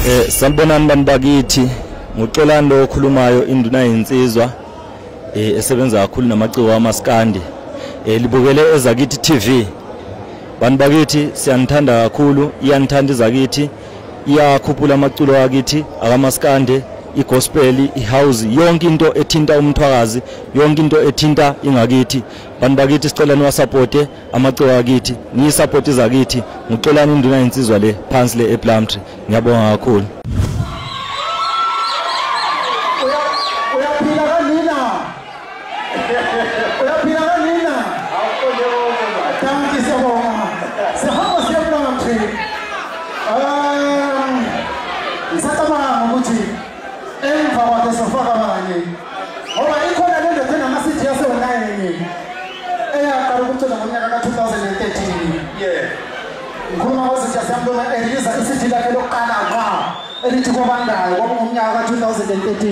Eh sanibonani bantu bakithi nguxolani lo okhulumayo induna yensizwa eh esebenza kakhulu namaciko amaskandi eh libukele ezakithi TV bantu bakithi siyanithanda kakhulu iyanithanda izakithi iyakhuphula amaculo akithi akamaskande igospel ihouse yonke into ethinta umthwakazi yonke into ethinta ingakithi bantu bakithi sicela niwasupporte amaciko akithi ngiyisupport izakithi ngixolani induna yensizwa le phansi le eplumtree ngiyabonga kakhulu Emva kwakhe sofaka abanye. Ngoba ikhona le ndoda enamasithi yasewonayini eyaqala ukucula ngonyaka ka-2013. Yeah. Ngikhuluma ngozinja siyambona eliza isithi lakhe lokuqala ngqa elithi kobandayo kwakungomnyaka ka-2013.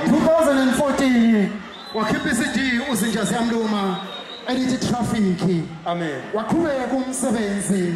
2014 wakhipha i-CD uzinja siyamluma elithi traffic. Amen. Waqhubeka umsebenzi.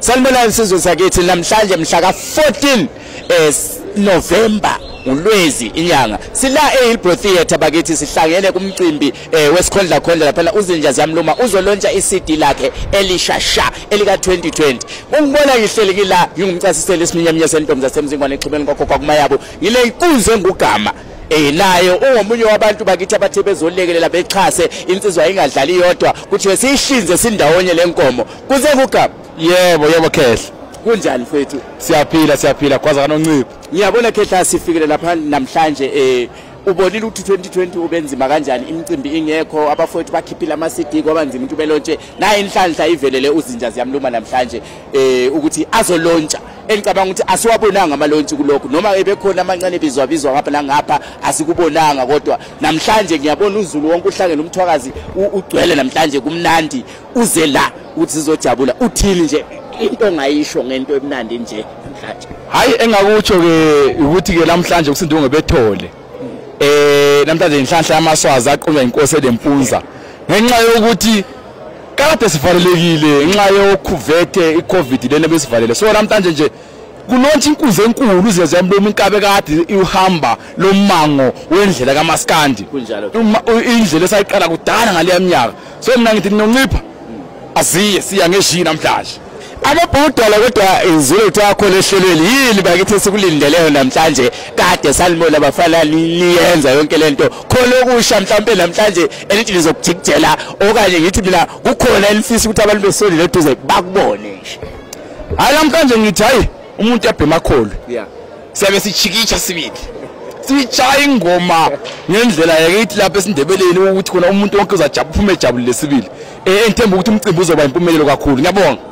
Sanibonani sizwe sakithi namhlanje mhla ka 14 eh, November uLwezi inyanga sila eHillbrow Theatre bakithi sihlangene kumcimbi eh, wesikhondla khondla lapha uzinja ziyamluma uzolontsha iCD lakhe elishasha elika 2020 ungibona ngihleli kila ngingumcasiseli esiminyeminye sentombi zasemzingwane exhumeni kokho kwakumayabo ngile inkunzi engugama eh naye ungomunye wabantu bakithi abathe bezolekelela bexhase insizwa ingadlali yodwa kuthiwe siyihlinze sindawonye lenkomo Kusengugaba. Yebo, yebo Khehla. Kunjani mfethu? Siyaphila, siyaphila kwaza kanoncipho. Ngiyabona Khehla sifikele lapha namhlanje eh ubonile ukuthi 2020 ubenzima kanjani imicimbi ingekho abafowethu bakhiphile ama-cd kwaba nzima ukuthi ubelontshe naye inhlanhla ivelele uzinja ziyamluma namhlanje um ukuthi azolontsha engicabanga ukuthi asiwabonanga amalontshi kulokhu noma ebekhona amancane bizwabizwa ngapha nangapha asikubonanga kodwa namhlanje ngiyabona uzulu wonke uhlangene umthwakazi ugcwele namhlanje kumnandi uze la uthi sizojabula uthini nje into ongayisho ngento emnandi nje namhlanje hayi engakutsho ke ukuthi ke namhlanje kusindunge bethole eh namhlanje inhlanhla yamaswazi aqunywa inkosi elempunza ngenxa yokuthi kade sivalelekile ngenxa yokhuvethe icovid lena besivalele so namhlanje nje kulontsha inkunzi enkulu uzezwa emloma inkabe kade ihamba lommango wendlela kamaskandi indlela esayiqala kudala ngaleya minyaka so mina ngithi ninoncipha aziye siya ngeshiyi namhlanje ababhudala kodwa izulu takho lehlelweni yini bakithi sikulindeleyo namhlanje kade salimola bafana liyenza yonke lento khona okusha mhlawumbe namhlanje elithi lizokujikijela okanye ngithi mina kukhona elifisa ukuthi abantu besoli leduze bakubone hayi namhlanje ngithi hayi umuntu yabhema kholo yeah siyabe sijikitsha sibili sishaya ingoma ngendlela yakithi lapha esindebeleni ukuthi khona umuntu wonke uzajabula uphume ejabulile sibili eh, engithemba ukuthi umcimbi uzoba impumelelo kakhulu ngiyabonga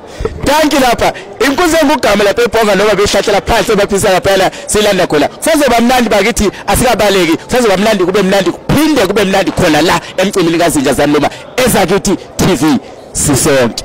danki lapha inkunzi engugama lapha ebhonga noma behlathela phansi ebaphisa ngaphela silanda khona kusazoba mnandi bakithi asikabaleki kusazoba mnandi kube mnandi kuphinde kube mnandi khona la emcimbini kazinja zaniloma ezakithi tv sisonke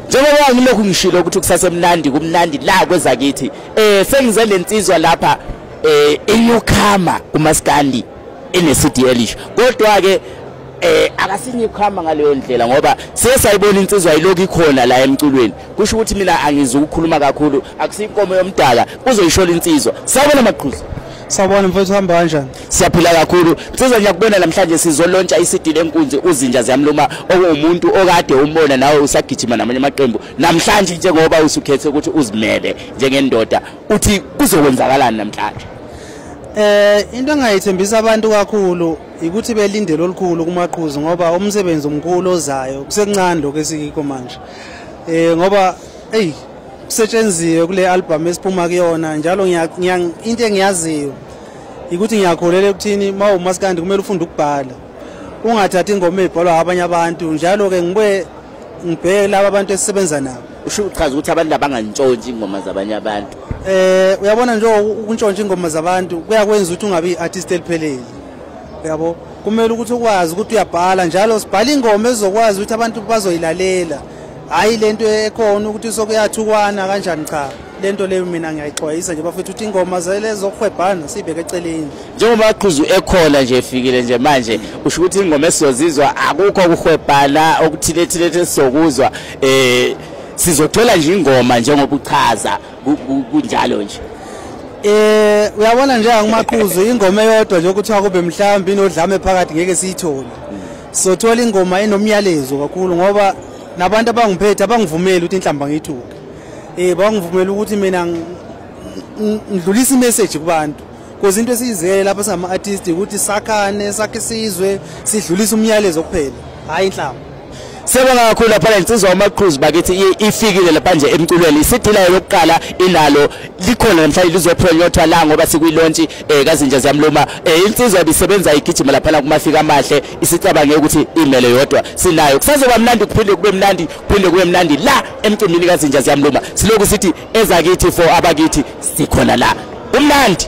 njengoba ngilokhu ngishilo ukuthi kusasemnandi kumnandi la kwezakithi eh sengize lensizwa lapha eh inyukhama kumaskandi enesidi elish kodwa ke eh akasinye ukuhamba ngaleyo ndlela ngoba siye sayibona insizwa ilokhu ikhona la emculweni kusho ukuthi mina angizi ukukhuluma kakhulu akusinkomo yomdala uzoyishola insizwa sawubona maqhuzu sawubona mfowethu uhamba kanjani siyaphila kakhulu nsizwa ngiyakubona namhlanje sizolontsha isidini enkunzi uzinja ziyamluma okuwumuntu okade umbona nawe usagijima namanye amaqembu namhlanje njengoba usukhethe ukuthi uzimele njengendoda uthi kuzokwenzakalani namhlanje eh into engayithembisa abantu kakhulu ukuthi belindele olukhulu kumaqhuzu ngoba umsebenzi omkhulu ozayo kusekuncane lokho esikikho manje eh ngoba hey kusetshenziwe kule album esiphuma kuyona njalo ngiya into engiyaziyo ikuthi ngiyakholela ekuthini uma umaskandi kumele ufunde ukubhala ungathathi ingoma eyibhalwa abanye abantu njalo-ke ngibuye ngibheke laba abantu esisebenza nabo usho uchaza ukuthi abantu labangantshontshi ingoma zabanye abantu eh uyabona nje ukuntshontsha ingoma zabantu kuyakwenza ukuthi ungabi i-artist eliphelele uyabo kumele ukuthi ukwazi ukuthi uyabhala njalo sibhala ingoma ezokwazi ukuthi abantu bazoyilalela hhayi le nto ekhona ukuthi sokuyathukwana kanjani cha le nto leyo mina ngiyayixwayisa nje bafethu ukuthi ingoma zele zokuhwebhana siyibeke eceleni njengoba aqhuzu ekhona nje efikile nje manje usho ukuthi ingoma esizozizwa akukho ukuhwebhana okuthilethile esizokuzwa eh sizothola nje ingoma njengoba uchaza kunjalo nje Eh uyabona nje angimaqhuzu ingoma eyodwa nje ukuthi akube mhlawumbe inodlame phakathi ngeke siyithole sothola ingoma enomyalezo kakhulu ngoba nabantu abangiphethe abangivumeli ukuthi inhlamba ngiyithuke Eh bangivumela ukuthi mina ngidlulisa imessage kubantu because into esiyizele lapha singama artist ukuthi sakhane sakhe isizwe sidlulisa umyalezo kuphela hayi inhlamba Siyabonga kakhulu lapha lensizwa uMaqhuzu bakithi ifikile lapha nje emculweni isidila yokuqala ilalo likhona namhlanje lizophronyothwa la ngoba sikwilontshi eh kazinja ziyamluma eh insizwa ibisebenza igijima lapha kumafika amahle isicabange ukuthi imele yodwa sinayo kusazoba mnandi kuphinde kube mnandi phinde kube mnandi la emcimbini kazinja ziyamluma siloku sithi ezakithi for abakithi sikhona la umnandi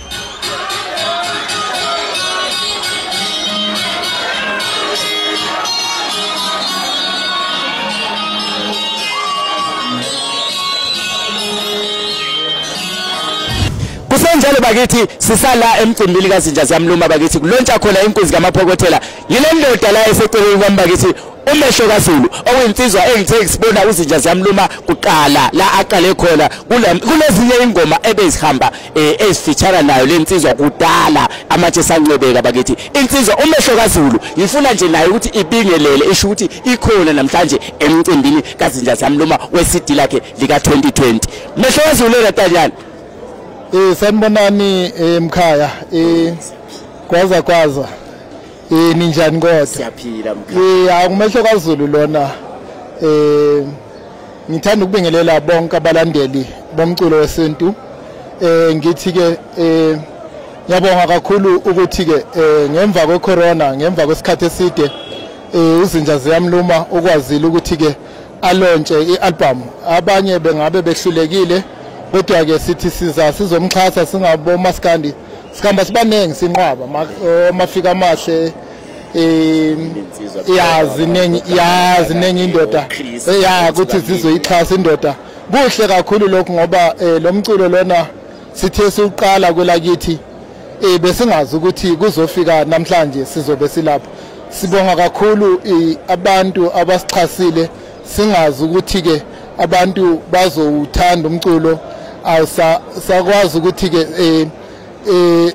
kunjalo bakithi sisala emcimbini kazinja ziyamluma bakithi kulontsha khona inkunzi kamaphokothela yile ndoda la eseceleni kwami bakithi Umehlo kaZulu okuyinsizwa engithe ngisibona uzinja ziyamluma kuqala la aqale khona kulezinye ingoma ebezihamba eh, ezifitshana nayo lensizwa kudala amatshe sancwebeka bakithi insizwa umehlo kaZulu ngifuna nje naye ukuthi ibingelele isho ukuthi ikhona namhlanje emcimbini kazinja ziyamluma weCD lakhe lika 2020 mehlo kaZulu eratanyana Eh sanibonani emkhaya eh kwaza kwaza Eh ninjani kodwa? Siyaphila mkhaya. Eh akumehlo kaZulu lona. Eh ngithanda ukubingelela bonke abalandeli bomculo wesintu. Eh ngithi ke eh ngiyabonga kakhulu ukuthi ke eh, ngemva kwe corona ngemva kwesikhathi eside eh, uzinja ziyamluma ukwazile ukuthi ke alontshe ialbum abanye bengabe behlulekile kodwa ke sithi siza sizomxhasa singabo maskandi sikhamba sibaningi sinqwaba amafika amahle ya ziningi ya ziningi indoda ya ukuthi zizoyixhasa indoda kuhle kakhulu lokhu ngoba eh, lo mculo lona sithe siwuqala kwelakithi eh besingazi ukuthi kuzofika namhlanje sizobe silapha sibonga kakhulu abantu abasixhasile singazi ukuthi-ke abantu bazowuthanda umculo awusakwazi ukuthi-ke um um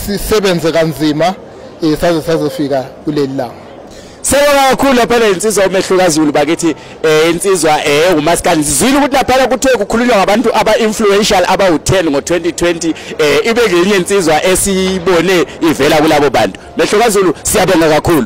sisebenze kanzima um saze sazofika kuleli langa Siyabonga kakhulu laphana insizwa umehluka Zulu bakithi eh insizwa eh umaskandi sizwile ukuthi laphana kuthe kukhulunywa ngabantu aba influential aba u10 ngo2020 eh ibe ngenye insizwa esiyibone ivela kulabo bantu. Mehluka Zulu siyabonga kakhulu.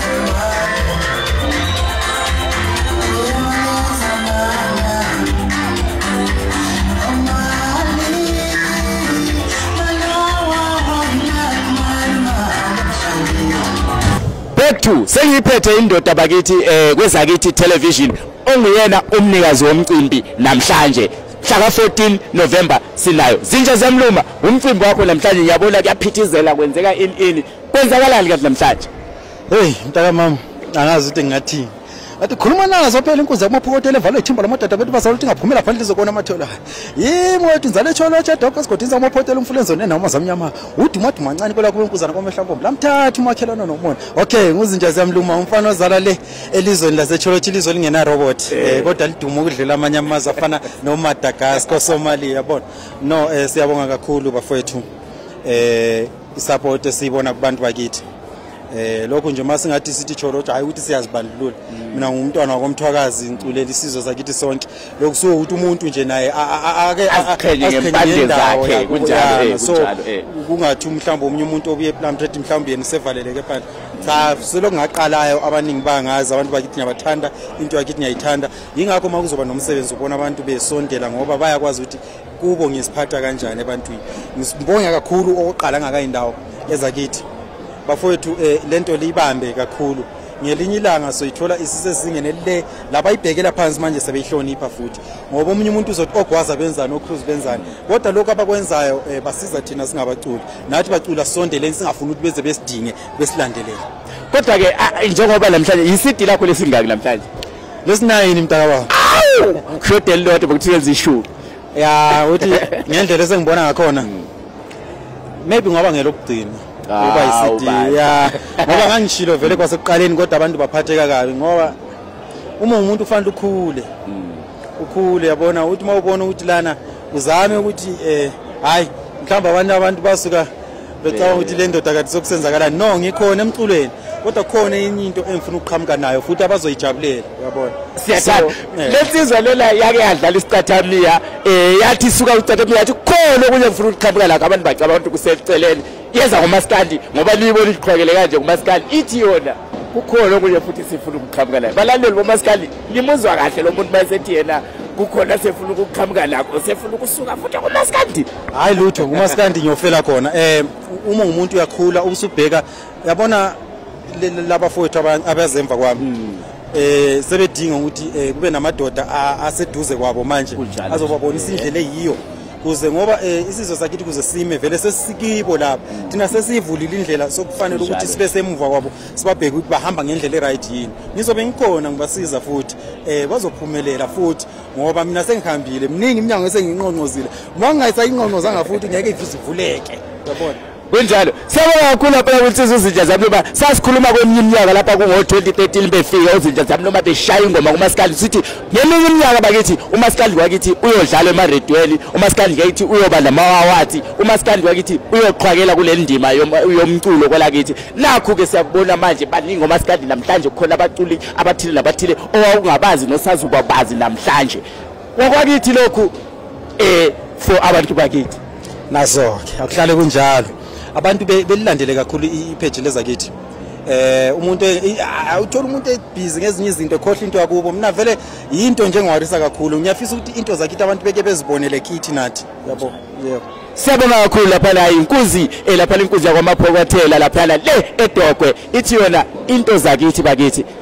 back to sengiyiphethe indoda bakithi eh kwezakithi television onguyena umnikazi womcimbi namhlanje mhlaka 14 November sinayo zinja zemluma umcimbi wakho namhlanje ngiyabona kuyaphithizela kwenzeka in in kwenzakalani kanti namhlanje hey mntakamama angazi ukuthi ngingathini athi khuluma nazo phela inkunzi yakumaphokotela evalwe ithimba lamadada bethu bazala ukuthi ingaphumela phandle izokona amathela yimo wethu inzala etholo etshadoko esigodini sakumaphokotela umfulenzoni nenoma zamnyama udumaduma ncane kwela kube inkuzana kwamehla nkombo lamthatha umakhelwana nomona okay nguzinja ziyamluma umfana ozala le elizweni lasecholotsha ilizwe lingenarobot um eh. eh, kodwa liduma ukudlula amanye amazwe afana nomadagasko somali yabona no um siyabonga kakhulu bafowethu um isapoti esiyibona kubantu bakithi eh lokho nje uma singathi sithi cholo kodwa hayi ukuthi siyazibandlulula mm. mina ngumntwana wakomthwakazi ngiculela isizwe sakithi sonke lokhu so ukuthi umuntu nje naye ake aziqhenye ngempande zakhe kunjalo eh, so eh. kungathi mhlawumbe omunye umuntu obuye ePlum Trade mhlawumbe yena usevaleleke phandle cha selokhu ngaqalayo abaningi bangazi abantu bakithi ngiyabathanda into yakithi ngiyayithanda yingakho uma kuzoba nomsebenzi ubona abantu besondela ngoba bayakwazi ukuthi kubo ngiziphatha kanjani ebantwini ngibonga kakhulu okoqala ngakayindawo ezakithi bafowethu eh, lento liyibambe kakhulu ngelinye ilanga soyithola isisezingeni elile laba ibhekela phansi manje sebeyihlonipha futhi ngoba omunye umuntu uzothi ogwaza benzani ocruise benzani kodwa lokho abakwenzayo eh, basiza thina singabaculi nathi bacula sondeleni singafuni ukuthi beze besidinge besilandelele kodwa ke njengoba namhlanje yisidi lakho lesingaki namhlanje lesinayini mntaka baba awu shodeli lodwa bokuthiyenza ishumi ya uthi ngendlela esengibona ngakhona hmm. maybe ngoba ngelokugcina ah, uba yi-cd ya ngoba ngangishilo vele kwasekuqaleni kodwa abantu baphatheka kabi ngoba uma umuntu kufanele ukhule hmm. ukhule yabona uthi uma ubona ukuthi lana uzame ukuthi um eh, hhayi mhlawumbe abanye abantu basuka becabanga ukuthi le ndoda kade sokusenzakalani no ngikhona emculweni kodwa khona enye into engifuna ukuqhamuka nayo futhi abazoyijabulela uyabona siyathanda eh. lensizwa lena yake yadlala isicathamiya um eh, yathi suka ucathamiya yathi khona okunye ngifuna ukuqhamuka lakho abantu bacaba abantu kuseceleni yeza ngomasikandi ngoba liyibona iqhwekele kanje ngomasikandi ithi yona kukhona okunye futhi sifuna ukuqhamuka nayo balaleli bomasikandi nimuzwa kahle lo muntu mayesethi yena kukhona sefuna ukuqhamuka lakho sefuna ukusuka futhi ngomasikandi hayi lutho ngumaskandi ngiyofela khona eh uma umuntu uyakhula ubusubheka yabona laba fowethu abazemva kwami hmm. eh sebedinga ukuthi eh, kube namadoda aseduze kwabo manje azobabonisa indlela eyiyo kuze ngoba eh, isizwe sakithi kuze sime vele sesikibo lapha hmm. thina sesivulile indlela sokufanele ukuthi sibe semuva kwabo sibabheke ukuthi bahamba ngendlela e-right yini ngizobe ngikhona ngibasiza futhi um bazophumelela futhi ngoba mina sengihambile mningi iminyango esenginqonqozile uma ngingayisayinqonqozanga futhi ngeke ifize ivuleke yabona kunjalo siyabonga kakhulu lapha ukuthi izinja zami noma sasikhuluma kweminye iminyaka lapha kungo-2013 befika ozinja zami noma beshaya ingoma kumasikandi sithi ngeminye iminyaka bakithi umasikandi wakithi uyodlala emaredweni umasikandi ngakithi uyoba namawawathi umasikandi wakithi uyoqhwakela kule ndima yomculo kwelakithi nakhu-ke siyakubona manje baningi omasikandi namhlanje kukhona abaculi abathile nabathile owawungabazi nosazubabazi namhlanje wakwakithi lokhu eh for abantu bakithi nazo-ke akuhlale kunjalo abantu belilandele kakhulu ipheji lezakithi eh umuntu e, uthola umuntu ebhizi ngezinye izinto ekhohle into yakubo mina vele yinto nje engiwarisa kakhulu ngiyafisa ukuthi into zakithi abantu beke bezibonele kithi nathi yabo yebo siyabonga kakhulu lapha la inkuzi eh, lapha lenkuzi yakwamaphokothela lapha le edogwe ithi yona into zakithi bakithi